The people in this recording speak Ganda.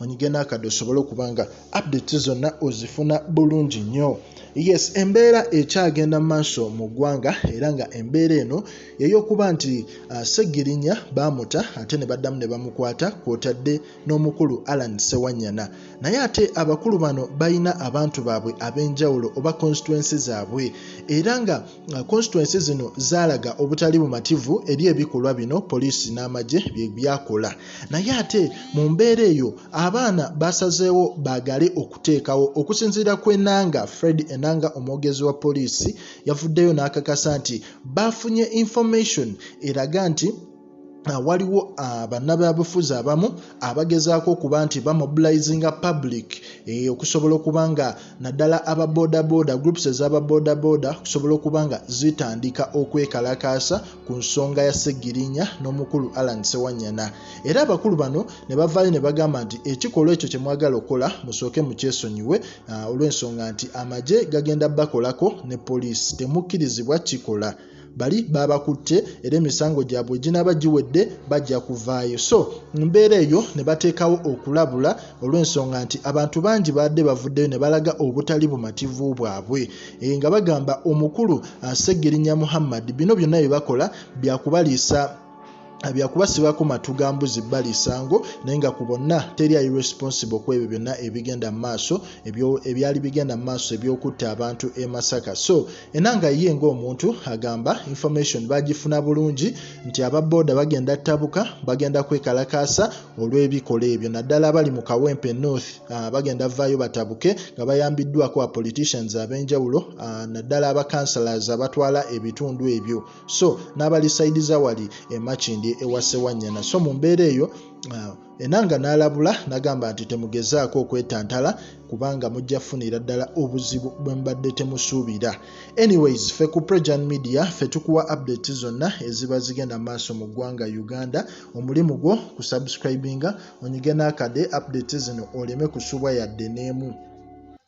onyige n'akadde osobole okuba nga update zonna ozifuna bulungi nnyo yes embeera ekyagenda mu maaso mu ggwanga era nga embeera eno yeyokuba nti uh, segirinya baamuta ate ne baddamu ne bamukwata kwotadde n'omukulu alan sewanyana naye ate abakulu bano balina abantu baabwe ab'enjawulo oba constituensi zaabwe era nga Uh, constituency zino zaalaga obutali bumativu eri ebikolwa bino poliisi n'amagye bye byakola naye ate mu mbeera eyo abaana baasazeewo baagale okuteekawo okusinziira ku enanga fred enanga omwogezi wa poliisi yavuddeyo n'akakasa nti baafunye information eraga nti Ah, waliwo ah, bannabyabufuzi abamu abagezaako okuba nti bamobilizinga public eh, okusobola okuba nga naddala aba bodaboda groups ezaba bodaboda okusobola okuba nga zitandika okwekalakaasa ku nsonga ya segirinya n'omukulu alan sewanyana era abakulu bano ne bavaayo ne bagamba nti ekikolwa ekyo kye mwagala okukola musooke mukyesonyiwe ah, olw'ensonga nti amagye gagenda bakolako ne poliisi temukkirizibwa kikola bali baabakutte era emisango gyabwe ginaaba giwedde bajja kuvaayo so mu mbeera eyo ne bateekawo okulabula olw'ensonga nti abantu bangi baadde bavuddeyo ne balaga obutali bumativu bwabwe e, nga bagamba omukulu Ssegirinya Muhammad bino byonna bye bakola bya kubaliisa byakuba sibako matu ga mbuzi bbali isango naye nga ku bonna teri ayi responsible ku ebyo byonna ebigenda mu maaso ebyali bigenda mu maaso ebyokutta abantu e masaka so enanga ye ngaomuntu agamba information bagifuna bulungi nti ababooda bagenda ttabuka bagenda kwekalakaasa olw'ebikola ebyo naddala abali mu kawempe north ah, bagenda vaayo batabuke nga bayambiddwako a politicians ab'enjawulo ah, naddala abacouncilors abatwala ebitundu ebyo so n'abali sayidi za wali emakindi ewa sewanyana so mu mbeera eyo uh, enanga n'alabula nagamba nti temugezaako okwetantala kubanga mujja kufunira ddala obuzibu bwe mbadde temusuubira anyways fe ku prejan media fe tukuwa update zonna eziba zigenda maaso mu ggwanga uganda omulimu gwo ku subscribinga onyige n'akade update zino oleme kusubwa yadde n'emu